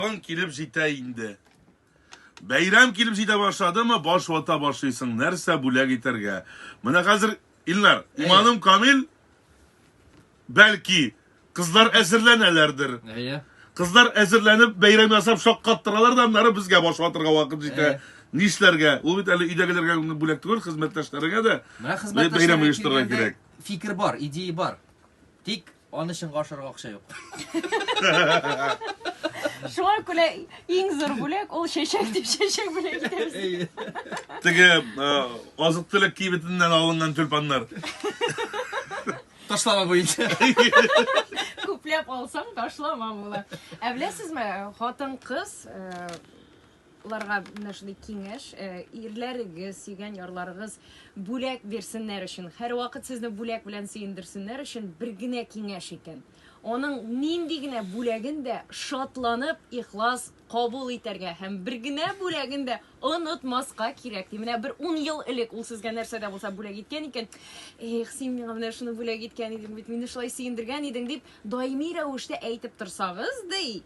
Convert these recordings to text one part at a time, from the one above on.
Рамазан килеп җитә инде. Бәйрәм килеп җитә башладымы, баш вата башлыйсың, нәрсә бүләк итәргә. Менә хәзер, Илнар, иманым камил, бәлки, кызлар әзерләнәләрдер. Әйе. Кызлар әзерләнеп, бәйрәм ясап шаккаттыралар да, аннары безгә баш ватырга вакыт җитә. Әйе. Нишләргә? Ул бит әле өйдәгеләргә генә бүләк түгел, хезмәттәшләреңә дә Менә бәйрәм хезмәттәшләргә оештырырга килгәндә кирәк. фикер бар, идея бар. Тик Аны чынга ашырга акча юк. Шуңа күрә иң зур бүләк ул чәчәк дип чәчәк бүләк итәбез. Теге азык төлек кибетеннән алынган тюльпаннар. Ташлама буенча. Күпләп алсаң ташлама була. Ә беләсезме, хатын-кыз Ларга менә шундый киңәш, э, ирләрегез, сөйгән ярларыгыз бүләк бирсеннәр өчен, һәрвакыт сезне бүләк белән сөендерсеннәр өчен бер генә киңәш икән. Аның нинди генә бүләген дә шатланып, ихлас кабул итәргә һәм бер генә бүләген дә онытмаска кирәк, ди. Менә бер ун ел элек ул сезгә нәрсә дә булса бүләк иткән икән, Эх, син миңа менә шуны бүләк иткән идең бит, мине шулай сөендергән идең, дип даими рәвештә әйтеп торсагыз, ди.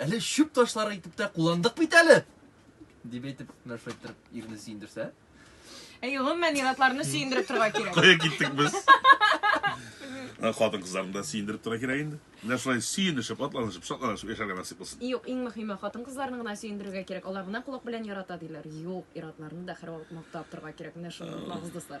Әле чүп ташлары итеп тә кулландык бит әле! дип әйтеп, Мәрфә иттереп ирне сөендерсә. Әй, гомумән, ир-атларны сөендереп торырга кирәк. Кая киттек без? Ә, Хатын-кызларны да сөендереп тора кирәк инде. Менә шулай сөенешеп, атланышып, шатланышып яшәргә насыйп булсын. Юк, иң мөһиме, хатын-кызларны гына сөендерергә кирәк. Алар гына колак белән ярата, диләр. Юк, ир-атларны да һәрвакыт мактап торырга кирәк. Менә шуны онытмагыз, дуслар.